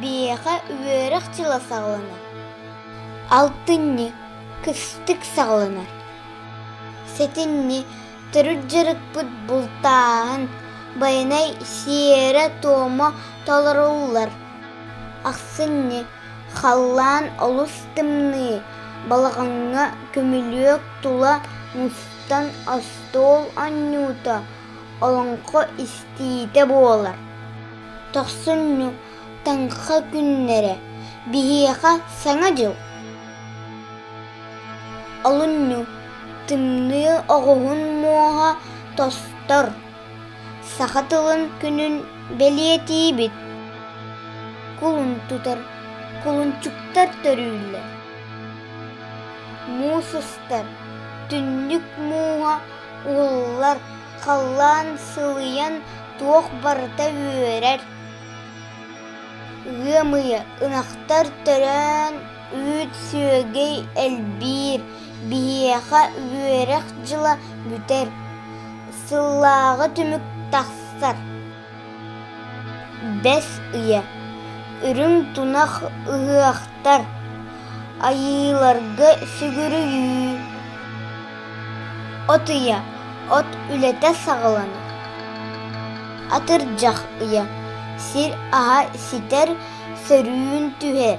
Биһиэхэ үөрэх дьыла саҕаланар, алтынньы кыстык саҕаланар, сэтинньи төрүт дьарыкпыт бултааһын, байанай сиэрэ-туома толоруллар, ахсынньы халлаан олус тымныы, балаҕаҥҥа көмүлүөк тула мустан остуол анньуута, олоҥхо истиитэ буолар. Тохсунньу-таҥха күннэрэ биһиэхэ Саҥа дьыл. Олунньу тымныы оҕуһун муоһа тостор. Саха тылын күнүн бэлиэтиибит. Кулун тутар кулунчуктар төрүүллэр. Муус устар түннүк мууһа уһуллар халлаан сылыйан Туох барыта үөрэр, ыам ыйы ынахтар төрөөн, үүт сүөгэй элбиир, биһиэхэ үөрэх дьыла бүтэр, сыллааҕы түмүк тахсар. Бэс ыйа Үрүҥ тунах ыһыахтар, айыыларга сүгүрүйүү От ийэ, от үлэтэ саҕаланар. Атырдьах ыйа сир аһа ситэр, сөрүүн түһэр.